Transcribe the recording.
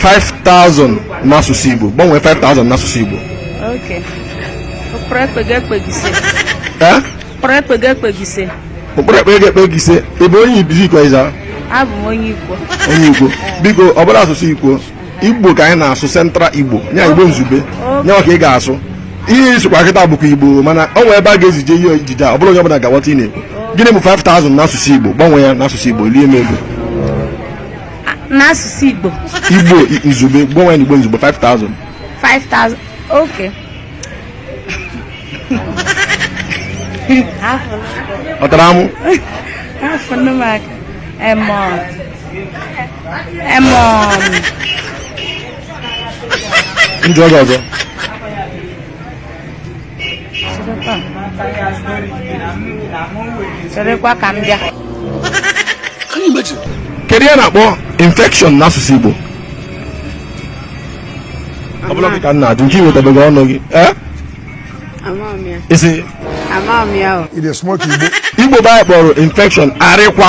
5000 n'asụsụ Igbo gbanwee 5000 n'asụsụ Igbo okay ụkporo ekpa ego ekpa ego ise eh ụkporo ekpa ego ekpa ego ise ụkporo ekpa ego ekpa ego ise ị bụ onye ebee Izzi Ikwo Ezza abụ m onye Ikwo onye Ikwo biko ọ bụla asụsụ Ikwo Igbo ka anyị na-asụ central Igbo nya Igbo izugbe nya ka ị ga-asụ ihe ị sụkwa kịta bụkwa Igbo mana o nwee ebe a ga-ezije ihe ejije a ọ bụla onye ọbụla ga-aghọta ihe ị na-ekwu gịnị bụ 5000 n'asụsụ Igbo gbanwee ya n'asụsụ Igbo lie m ego n'asụsụ Igbo Igbo izugbe gbanwe n'Igbo izugbe 5000 5000 okay ọ tara amụ afọ nne m aka emọ emọ ndị ọzọ ọzọ cherekwa ka m bịa kedu ihe a na-akpọ infection n'asụsụ Igbo ọ bụla ka m na-ajụ nke i wetabeghị ọnụ gị eh? ị sị Igbo be anyị kpọrọ infection arịkwa